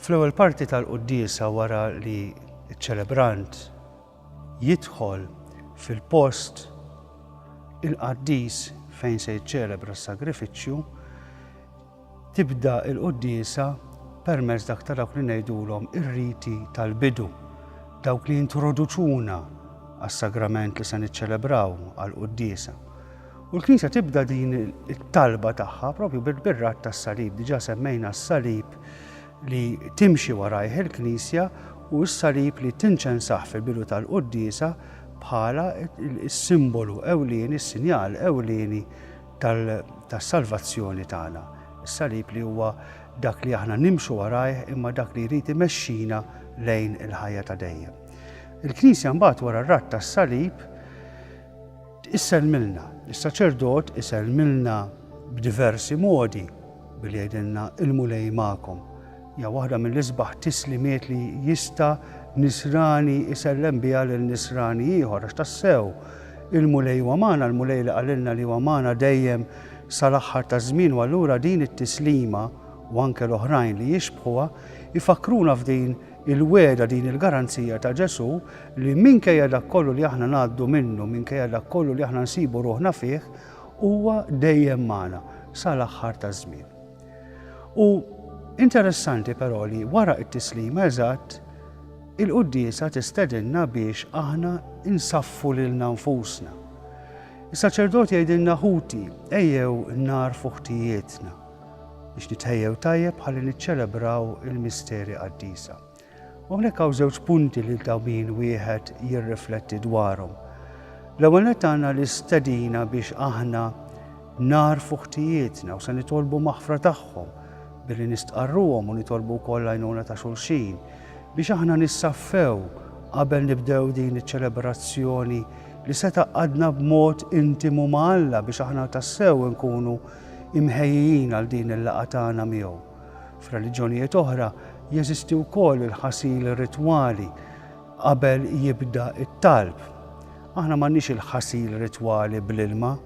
Fl-ewwel parti tal-quddiesa wara li ċ-ċelebrant jidħol fil-post il-qaddis fejn se jiċċelebra s-sagrifiċċju, Tibda l-quddiesa permezz dak ta' dawk li ngħidulhom ir-riti tal-bidu, dawk li jintroduċuna għas-sagrament li se niċċelebraw għall-quddiesa. U l-Knisja tibda din it-talba tagħha propju bir-rat tas-salib, diġà semmejna s-salib li timxi warajh il-Knisja u s-salib li tinċensah fil-bidu tal-quddiesa bħala s-simbolu ewlieni, s-sinjal ewlieni tas-salvazzjoni tagħna. Is-salib li huwa dak li aħna nimxu warajh imma dak li jrid imexxina lejn il-ħajja ta' dejjem. Il-Knisja mbagħad wara r-ratt tas-salib issellmilna. Is-saċerdot isellmilna b'diversi modi billi jgħidilna ilmu lej magħkom. Hija waħda mill-isbaħ tislimiet li jista' nisrani jsellem biha lil nisrani ieħor għax tassew il-Mulej huwa magħna, l-Mulej li qalilna li huwa magħna dejjem sal-aħħar taż-żmien u allura din it-tislima u anke l-oħrajn li jixbħuha jfakkruna f'din il-wegħda, din il-garanzija ta' Ġesù li minkejja dak kollu li aħna ngħaddu minnu, minkejja dak kollu li aħna nsibu ruħna fih, huwa dejjem magħna sal-aħħar taż-żmien. U interessanti però li wara t-tislima eżatt il-quddiesa tistedinna biex aħna insaffu lilna nfusna. Is-saċerdot jgħidilna ħuti ejjew narfu ħtijietna biex nitħejjew tajjeb ħalli niċċelebraw il-misteri qaddisa. U hawnhekk hawn żewġ punti li ta' min wieħed jirrifletti dwarhom. L-ewwel nett għandna l-istedina biex aħna narfu ħtijietna u se nitolbu maħfra tagħhom billi nistqarruhom u nitolbu wkoll għajnuna ta' xulxin biex aħna nissaffew qabel nibdew din iċ-ċelebrazzjoni li se taqadna b'mod intimu ma' Alla biex aħna tassew nkunu imħejjin għal din il-laqgħa tagħna miegħu. F'reliġjonijiet oħra jeżisti wkoll il-ħasil ritwali qabel jibda t-talb. Aħna m'għandniex il-ħasil ritwali bl-ilma,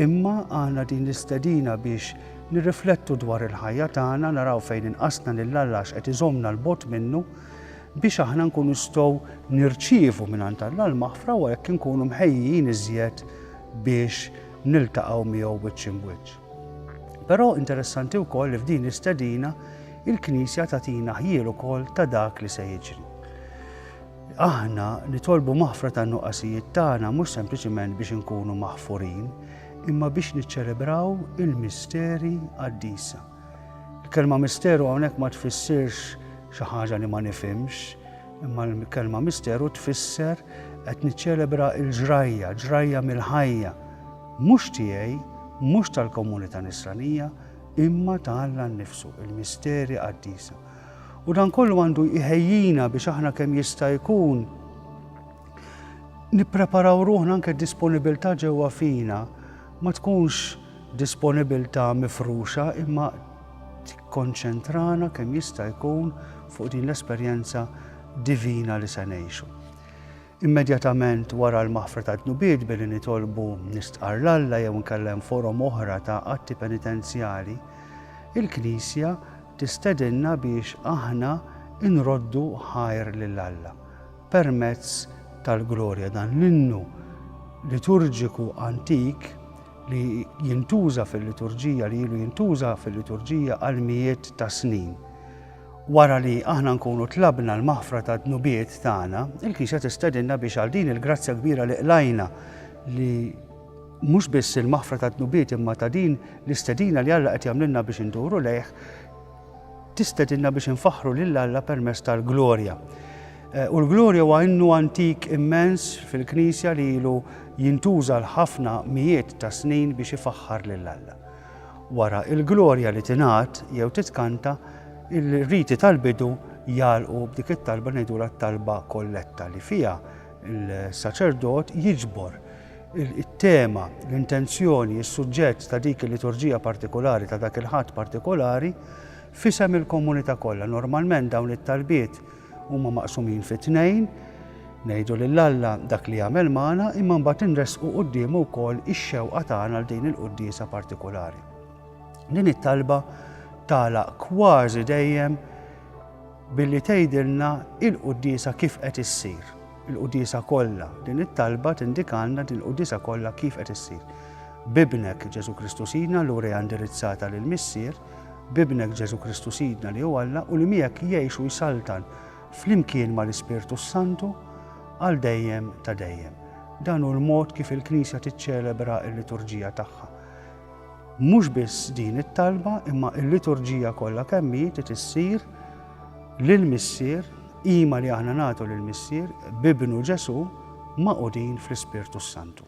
imma għandna din l-istedina biex nirriflettu dwar il-ħajja tagħna, naraw fejn inqasna lil Alla x'qed iżommna l-bogħod minnu, biex aħna nkun nistgħu nirċievu mingħand Alla l-maħfra u hekk inkunu mħejjin iżjed biex niltaqgħu miegħu wiċċ imbwiċċ. Però interessanti wkoll li f'din l-istedina il-Knisja tagħtina ħjiel ukoll ta' dak li se jiġri. Aħna nitolbu maħfra tan-nuqqasijiet tagħna mhux sempliċiment biex inkunu maħfurin, imma biex niċċelebraw il-misteri qaddisa. Il-kelma misteru hawnhekk ma tfissirx xi ħaġa li ma nifhimx, imma l-kelma misteru tfisser qed niċċelebra l-ġrajja, ġrajja mill-ħajja Mhux tiegħi, mhux tal-komunità Nisranija, imma ta' Alla nnifsu, il-misteri qaddisa. U dan kollu għandu jħejjina biex aħna kemm jista' jkun nippreparaw ruħna anke disponibilità ġewwa fina ma tkunx disponibilità mifruxa imma tikkonċentrana kemm jista' jkun fuq din l-esperjenza divina li se ngħixu. Immedjatament wara l-maħfra tad-dnubiet billi nitolbu nistqarr 'l Alla jew inkella hemm forom oħra ta' atti penitenzjali, il-Knisja tistedinna biex aħna nroddu ħajr lil Alla permezz tal-Glorja, dan l-innu liturġiku antik li jintuża fil-liturġija, li ilu jintuża fil-liturġija għal mijiet ta' snin. Wara li aħna nkunu tlabna l-maħfra tad-dnubiet tagħna, il-Knisja tistedinna biex għal din il-grazzja kbira li qlajna li mhux biss il-maħfra tad-dnubiet imma ta' din l-istedina li Alla qed jagħmlilna biex induru lejh, tistedinna biex infaħħru lil Alla permezz tal-glorja. Eh, u l-glorja huwa innu antik immens fil-Knisja li ilu jintuża l-ħafna mijiet ta' snin biex ifaħħar lil Alla. Wara l-glorja li tingħad jew titkanta, il-riti tal-bidu jagħlqu b'dik it-talba ngħidulha t-talba kolletta li fiha l-saċerdot jiġbor it-tema, l-intenzjoni, is-suġġett ta' dik il-liturġija partikolari ta' dak il-ħadd partikolari f'isem il-komunità kollha. Normalment dawn it-talbiet Huma maqsumin fi tnejn, ngħidu lil Alla dak li jagħmel magħna imma mbagħad inressqu quddiemu wkoll ix-xewqa tagħna għal din il-quddiesa partikulari. Din it-talba tagħlaq kważi dejjem billi tgħidilna il-quddiesa kif qed issir. Il-quddiesa kollha, din it-talba tindikalna din il-quddiesa kollha kif qed issir. Bibnek Ġesu Kristu Sidna l-urija indirizzata lill-Missier, b'Ibnek Ġesù Kristu Sidna li hu Alla u li miegħek jgħix u jsaltan flimkien mal-Ispirtu s-Santu għal dejjem ta' dejjem. Dan hu l-mod kif il-Knisja tiċċelebra l-liturġija tagħha. Mhux biss din it-talba imma l-liturġija kollha kemm hi trid issir lill-Missier qima li aħna nagħtu lill-Missier b'Ibnu Ġesù magħqudin fl-Ispirtu s-Santu.